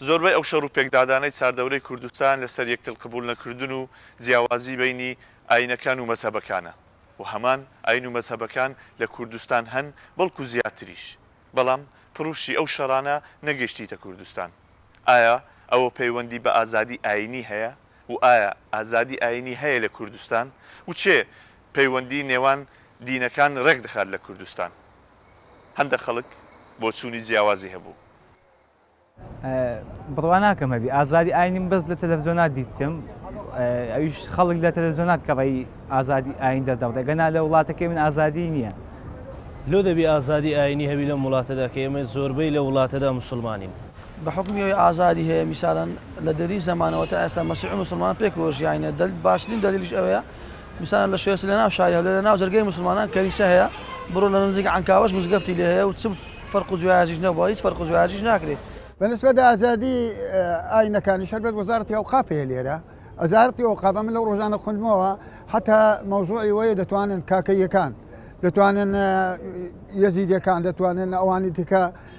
زۆربەی ئەو شەڕو پێکدادانەی چاردەورەی کوردستان لەسەر یەکتر قبوڵ نەکردن و جیاوازی بەینی ئاینەکان و مەزهەبەکانە و هەمان ئاین و مەزهەبەکان لە کوردستان هەن بەڵکو زیاتریش بەڵام پڕوشی ئەو شەڕانە نەگەشتیتە کوردستان ئایا ئەوە پەیوەندی بە ئازادی ئاینی هەیە؟ و ئایا ئازادی ئاینی هەیە لە کوردستان و چێ پەیوەندی نێوان دینەکان ڕێک دەخات لە کوردستان هەندە خەڵک بۆچوونی جیاوازی هەبوو. بڕوا ناکەم هەبی ئازادی ئاینیم بەس لە تەلەفزۆنات دیتم ئەویش خەڵک لە تەلەزۆنات کەڕی ئازادی ئاین دەردەڕێ گەنا لە وڵاتەکەی من ئازادی نییە لۆ دەبی ئازادی ئاینی هەبی لەم وڵاتەدا کە ئێمە زۆربەی لە وڵاتەدا موسڵمانین. بە حوکمی ئەوەی ئازادی هەیە میسالەن لە دەری زەمانەوە تا ئێستا مەسیح و موسڵمان پێکەوە ژیاینە دەل باشترین دەلیلیش ئەوەیە میسالەن لە شوێسە لە ناو شاری هەولێر لە ناو جەرگەی موسڵمانان کەنیسە هەیە بڕۆ لە نزیک عەنکاوەش مزگەفتی لێ هەیە و چ فەرق و جوایەجیش نەبووە هیچ فەرق و جوایەجیش ناکرێ. بە نسبەت ئازادی ئاینەکانیش هەر بەس وەزارەتی ئەوقاف هەیە لێرە ئەزارەتی ئەوقاف ئەمن لەو ڕۆژانە خوندمەوە حەتا مەوزوعی وەیە دەتوانن کاکەییەکان دەتوانن یەزیدیەکان دەتوانن ئەوانی دیکە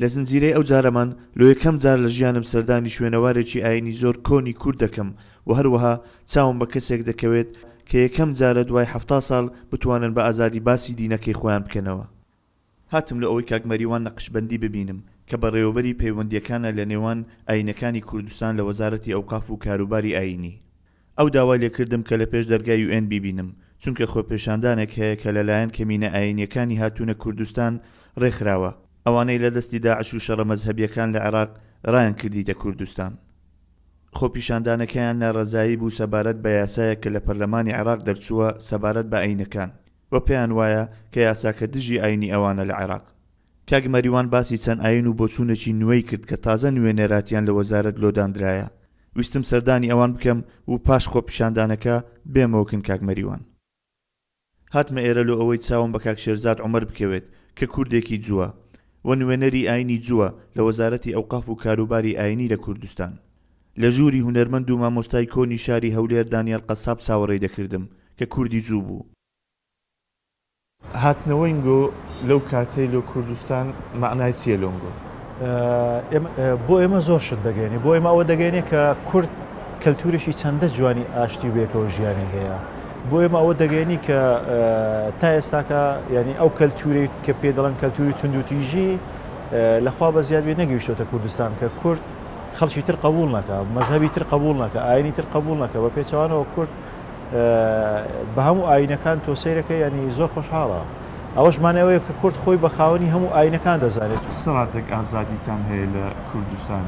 لە زنجیرەی ئەو جارەمان لۆ یەکەم جار لە ژیانم سەردانی شوێنەوارێکی ئاینی زۆر کۆنی کورد دەکەم و هەروەها چاوم بە کەسێک دەکەوێت کە یەکەم جارە دوای حەفتا ساڵ بتوانن بە ئازادی باسی دینەکەی خۆیان بکەنەوە. هاتم لۆ ئەوەی کاک مەریوان نەقشبەندی ببینم کە بەڕێوەبەری پەیوەندییەکانە لە نێوان ئاینەکانی کوردستان لە وەزارەتی ئەوقاف و کاروباری ئاینی. ئەو داوای لێ کردم کە لە پێش دەرگای یو ئێن بیبینم، چونکە خۆپێشاندانێک هەیە کە لەلایەن کەمینە ئایینیەکانی هاتوونە کوردستان ڕێکخراوە، ئەوانەی لە دەستی داعش و شەڕە مەزهەبیەکان لە عێراق ڕایانکردیتە کوردستان. خۆپیشاندانەکەیان نارەزایی بوو سەبارەت بە یاسایەک کە لە پەرلەمانی عێراق دەرچووە سەبارەت بە ئایینەکان و پێیان وایە کە یاساکە دژی ئایینی ئەوانە لە عێراق. کاک مەریوان باسی چەند ئاین و بۆچوونێکی نوێی کرد کە تازە نوێنەراتیان لە وەزارەت لۆداندرایە ویستم سەردانی ئەوان بکەم و پاش خۆپیشاندانەکە بێمەوە کن کاک مەریوان هاتمە ئێرە لۆ ئەوەی چاوم بە کاک شێرزاد عومەر بکەوێت کە کوردێکی جووە و نوێنەری ئاینی جووە لە وەزارەتی ئەوقاف و کاروباری ئاینی لە کوردستان لە ژووری هونەرمەند و مامۆستای کۆنی شاری هەولێر دانیال قەساب چاوەڕێی دەکردم کە کوردی جوو بوو. هاتنەوەی نگۆ لەو کاتەی لۆ کوردستان مەعنای چیە لۆ نگۆ؟ ئێمە بۆ ئێمە زۆر شت دەگەێنێ بۆ ئێمە ئەوە دەگەێنێ کە کورد کەلتورێکی چەندە جوانی ئاشتی وێکەوە ژیانی هەیە بۆ ئێمە ئەوە دەگەێنی کە تا ئێستاکە یعنی ئەو کەلتورێک کە پێ دەڵەن کەلتوری توندوتیژی لەخوا بە زیادێ نەگەیشتۆتە کوردستان کە کورد خەڵکی تر قبول نەکە مەذهبی تر قبول نەکە ئاینی تر قبول نەکە بە پێچوانەوە کورد بە هەموو ئاینەکان تۆ سەیرەکە ینی زۆر خۆشحاڵە ئەوەش مانەوەیە کە کورد خۆی بە خاوەنی هەموو ئاینەکان دەزانێت سڕاتێک ئازادیتان هەیە لە کوردستان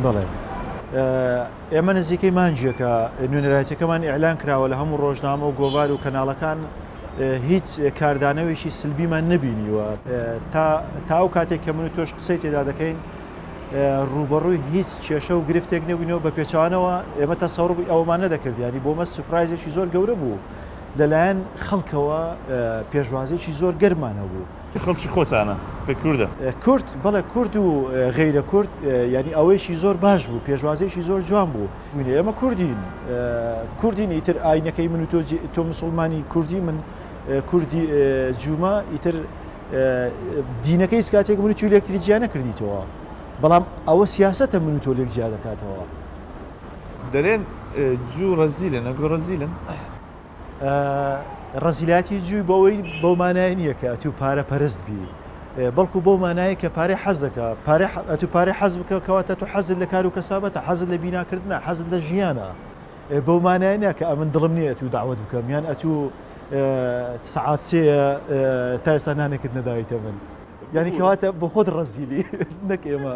بڵێ ئێمە نزیکەی مانجیەکە نوێنەرایەتەکەمان ئیعلان کراوە لە هەموو ڕۆژنامە و گۆڤار و کەناڵەکان هیچ کاردانەوەیکی سلبیمان نبینیوە تا تا ئەو کاتێک کە من و تۆش قسەی تێدا دەکەین ڕووبەڕووی هیچ کێشە و گرفتێک نەبووینەوە بە پێچوانەوە ئێمە تەسەوڕی ئەوەمان نەدەکرد یانی بۆ مە سوپرایزێکی زۆر گەورە بوو لەلایەن خەڵکەوە پێشوازێکی زۆر گەرمان هەبوو. کە خەڵکی خۆتانە کە کوردە؟ کورد بەڵێ کورد و غەیرە کورد یانی ئەوەیەکی زۆر باش بوو پێشوازێکی زۆر جوان بوو بووینە ئێمە کوردین کوردین ئیتر ئاینەکەی من و تۆ تۆ مسوڵمانی کوردی من کوردی جوومە ئیتر دینەکە هیچ کاتێک من و تۆی لە یەکتری جیا نەکردیتەوە، بەڵام ئەوە سیاسەتە من و تۆ لێک جیا دەکاتەوە. دەلێن جوو رەزیلن، ئەگۆ رەزیلن؟ رەزیلایەتی جووی بەوەی بەو مانایە نییە کە ئەتوو پارە پەرست بی، بەڵکو بەو مانایە کە پارەی حەز دەکا، ئەتوو پارەی حەز بکە کەواتە تۆ حەزت لە کار و کەسابەتە، حەزت لە بیناکردنە، حەزت لە ژیانە، بەو مانایە نییە کە ئەمن دڵم نییە ئەتوو دەعوەت بکەم یان ئەتوو سەعات سێیە تا ئێستا نانێکت نەداویتە من یانی کەواتە بۆ خۆت ڕەزیلی نەک ئێمە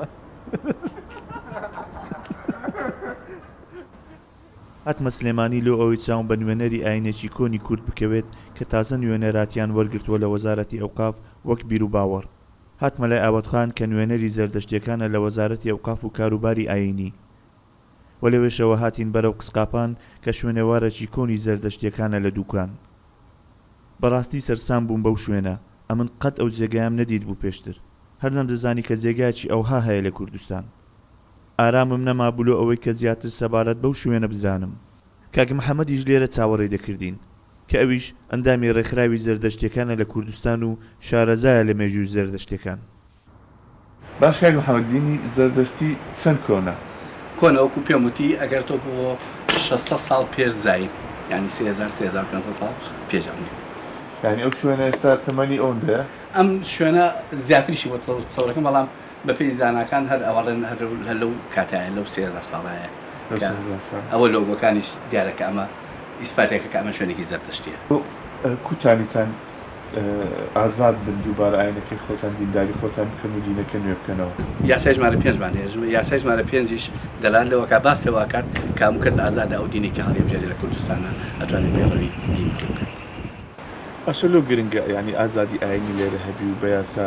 هاتمە سلێمانی لۆ ئەوەی چاوم بە نوێنەری ئاینێکی کۆنی کورد بکەوێت کە تازە نوێنەراتیان وەرگرتووە لە وەزارەتی ئەوقاف وەک بیروباوەڕ هاتمە لای ئاوەتخان کە نوێنەری زەردەشتیەکانە لە وەزارەتی ئەوقاف و کاروباری ئاینی و لەوێشەوە هاتین بەرەو قسقاپان کە شوێنەوارەکی کۆنی زەردەشتیەکانە لە دوکان. بەڕاستی سەرسام بووم بەو شوێنە، ئەمن قەت ئەو جێگایەم نەدیتبوو پێشتر، هەر نەمدەزانی کە جێگایەکی ئەوها هەیە لە کوردستان. ئارامم نەمابوو لۆ ئەوەی کە زیاتر سەبارەت بەو شوێنە بزانم. کاک محەمەدیش لێرە چاوەڕێی دەکردین، کە ئەویش ئەندامی ڕێکخراوی زەردەشتیەکانە لە کوردستان و شارەزایە لە مێژووی زەردەشتیەکان. باش کاک محمد دینی زەردەشتی چەند کۆنە؟ کۆنە وەکو پێم وتی ئەگەر تۆ بۆ شەش سەد ساڵ پێش زایین یانی سێ هەزار سێ هەزار و پێنج سەد ساڵ پێش ئەمەیت. یانی ئەو شوێنە ئێستا تەمەنی ئەوەندەیە؟ ئەم شوێنە زیاتریشی بۆ تەورەکەم بەڵام بە پێی زاناکان هەر ئەوەڵێن هەر لەو کاتایە لەو سێ هەزار ساڵایە کە ئەوە لۆگۆکانیش دیارە کە ئەمە ئیسپاتێکە کە ئەمە شوێنێکی زەردەشتیە. کوتانیتان ئازاد بن دووبارە ئاینەکەی خۆتان دینداری خۆتان بکەن و دینەکە نوێ بکەنەوە. یاسای ژمارە پێنج مان هەیە، یاسای ژمارە پێنجیش دەلالت لەوە ئەکات، باس لەوە ئەکات کە هەموو کەس ئازادە ئەو دینەی کە هەڵیبژێرێ لە کوردستانا ئەتوانێ پەیڕەوی دینی تێ بکات. باشە لۆ گرنگە یانی ئازادی ئاینی لێرە هەبی و بە یاسا.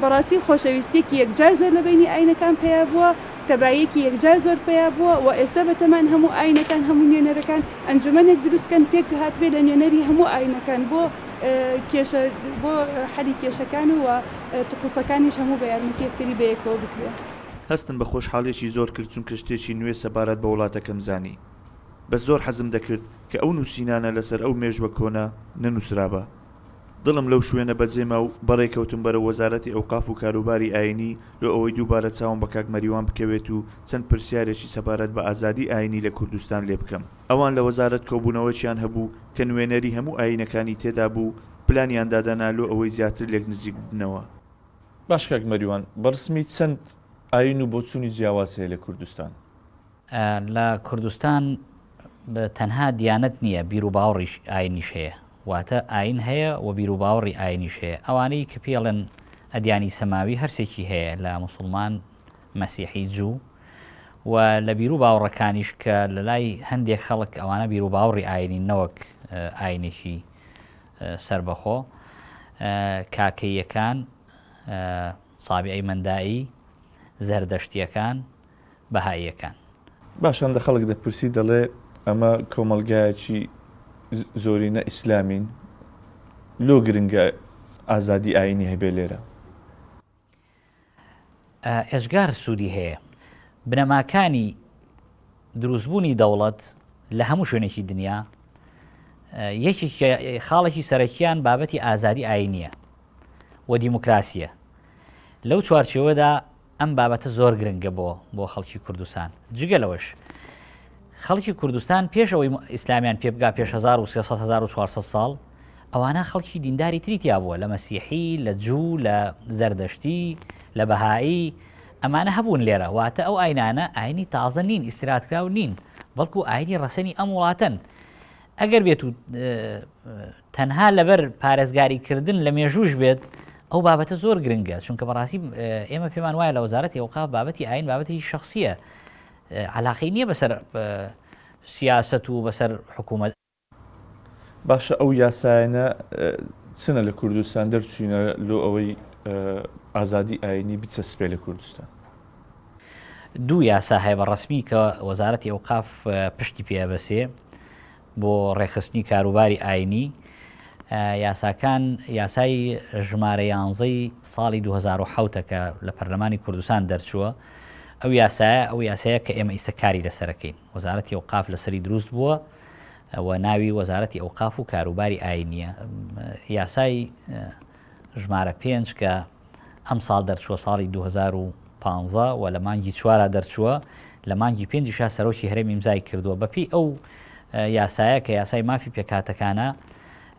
بەڕاستی خۆشەویستیەکی یەکجار زۆر لە بەینی ئاینەکان پەیا بووە، تەباییەکی یەکجار زۆر پەیا بووە و ئێستا بەتەمان هەموو ئاینەکان هەموو نوێنەرەکان ئەنجومەنێک دروست کەن پێک هاتبێ لە نوێنەری هەموو ئاینەکان بۆ کێشە بۆ حەلی کێشەکان و وە تقوسەکانیش هەموو بە یارمەتی یەکتری بەیەکەوە بکرێ. هەستم بە خۆشحاڵیەکی زۆر کرد چونکە شتێکی نوێ سەبارەت بە وڵاتەکەم زانی بەس زۆر حەزم دەکرد کە ئەو نوسینانە لەسەر ئەو مێژوە کۆنە نەنوسرابا دڵم لەو شوێنە بەجێ ما و بەڕێ کەوتم بەرەو وەزارەتی ئەوقاف و کاروباری ئایینی لۆ ئەوەی دووبارە چاوم بە کاک مەریوان بکەوێت و چەند پرسیارێکی سەبارەت بە ئازادی ئایینی لە کوردستان لێ بکەم. ئەوان لە وەزارەت کۆبوونەوەکیان هەبوو کە نوێنەری هەموو ئایینەکانی تێدا بوو، پلانیان دادەنا لۆ ئەوەی زیاتر لێک نزیک ببنەوە. باشە کاک مەریوان، بە ڕسمی چەند ئایین و بۆچوونی جیاواز هەیە لە کوردستان؟ لە کوردستان تەنها دیانەت نییە، بیروباوڕیش، ئاینیش هەیە. واتە ئاین هەیە و بیروباوڕی ئاینیش هەیە. ئەوانەی کە پێڵێن ئەدیانی سەماوی هەرسێکی هەیە لە موسڵمان، مەسیحی، جوو و لە بیروباوڕەکانیش کە لە لای هەندێک خەڵک ئەوانە بیروباوڕی ئاینین نەوەک ئاینێکی سەربەخۆ کاکەییەکان، سابیعی مەندائی، زەردەشتییەکان، بەهاییەکان. باشە ئەندە خەڵک دەپرسی دەڵێ ئەمە کۆمەڵگایەکی زۆرینە ئیسلامین لۆ گرنگە ئازادی ئاینی هەبێ لێرە؟ ئێجگار سوودی هەیە بنەماکانی دروستبوونی دەوڵەت لە هەموو شوێنێکی دنیا یەکی خاڵێکی سەرەکیان بابەتی ئازادی ئاینیە و دیموکراسیە لەو چوارچەوەدا ئەم بابەتە زۆر گرنگە بۆ بۆ خەڵکی کوردستان. جگە لەوەش خەڵکی کوردستان پێش ئەوەی ئیسلامیان پێ بگا پێش هەزار و سێ سەد هەزار و چوار سەد ساڵ ئەوانە خەڵکی دینداری تری تیا بووە لە مەسیحی، لە جوو، لە زەردەشتی، لە بەهایی، ئەمانە هەبوون لێرە. واتە ئەو ئاینانە ئاینی تازە نین، ئیستیرادکراو نین، بەڵکو ئاینی ڕەسەنی ئەم وڵاتەن. ئەگەر بێتوو تەنها لەبەر پارێزگاریکردن لە مێژووش بێت ئەو بابەتە زۆر گرنگە چونکە بەڕاستی ئێمە پێمان وایە لە وەزارەتی ئەوقاف بابەتی ئاین بابەتی شخصیە علاقەی نییە بەسەر سیاست و بەسەر حکوومەت باشە ئەو یاسایەنە چنە لە کوردستان دەرچوینە لۆ ئەوەی ئازادی ئاینی بچەسپێ لە کوردستان دوو یاسا هەیە بە ڕسمی کە وەزارەتی ئەوقاف پشتی پێ بەسێ بۆ ڕێکخستنی کاروباری ئاینی، یاساکان یاسای ژمارە یانزە ی ساڵی دوو هەزار و حەوت ە کە لە پەرلەمانی کوردستان دەرچووە، ئەو یاسایە ئەو یاسایە کە ئێمە ئیستە کاری لەسەر ئەکەین، وەزارەتی ئەوقاف لەسەری دروست بووە و ناوی وەزارەتی ئەوقاف و کاروباری ئاینییە، یاسای. ژمارە پێنج کە ئەمساڵ دەرچووە ساڵی دوو هەزار و پازدە و لە مانگی چوارا دەرچووە، لە مانگی پێنجیشا سەرۆکی هەرێم ئیمزای کردووە، بەپێی ئەو یاسایە کە یاسای مافی پێکهاتەکانە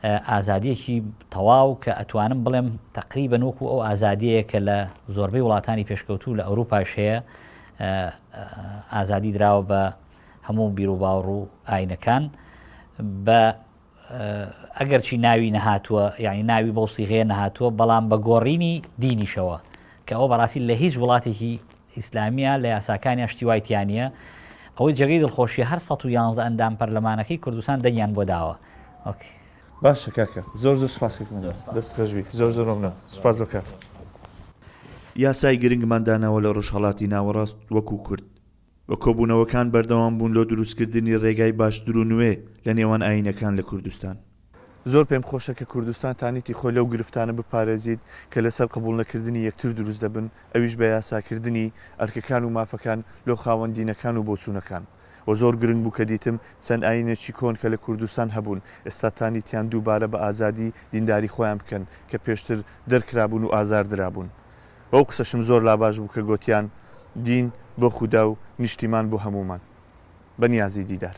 ئازادییەکی تەواو کە ئەتوانم بڵێم تەقریبەن وەکو ئەو ئازادیەیە کە لە زۆربەی وڵاتانی پێشکەوتوو لە ئەوروپاش هەیە ئازادی دراوە بە هەموو بیرو باوڕ و ئاینەکان بە ئەگەرچی ناوی نەهاتووە یعنی ناوی بەو سیغەیە نەهاتووە بەڵام بە گۆڕینی دینیشەوە کە ئەوە بەڕاستی لە هیچ وڵاتێکی ئیسلامیە لە یاساکانیان شتی وایتیانە ئەوەی جێگەی دڵخۆشی هەر ١11 ئەندام پەرلەمانەکەی کوردستان دەنگیان بۆ داوە ئۆکەی باشە کاکە زۆر زۆر سپاسێکم دەست خۆشبی زۆر زۆر مەمنون سپاس بۆ کاتت. یاسای گرنگمان داناوە لە ڕۆژهەڵاتی ناوەڕاست وەکو کورد و کۆبوونەوەکان بەردەوام بوون لۆ دروستکردنی رێگای باشتر و نوێ لە نێوان ئایینەکان لە کوردستان. زۆر پێم خۆشە کە کوردستان تانیتی خۆی لەو گرفتانە بپارێزیت کە لەسەر قبوڵنەکردنی یەکتر دروست دەبن، ئەویش بە یاساکردنی ئەرکەکان و مافەکان لۆ خاوەن دینەکان و بۆچوونەکان. و زۆر گرنگ بوو کە دیتم چەند ئایینێکی کۆن کە لە کوردستان هەبوون ئێستا تانیتیان دووبارە بە ئازادی دینداری خۆیان بکەن کە پێشتر دەرکرابوون و ئازار درابوون بەو قسەشم زۆر لاباش بوو کە گۆتیان دین بۆ خودا و نیشتیمان بۆ هەموومان. بە نیازی دیدار.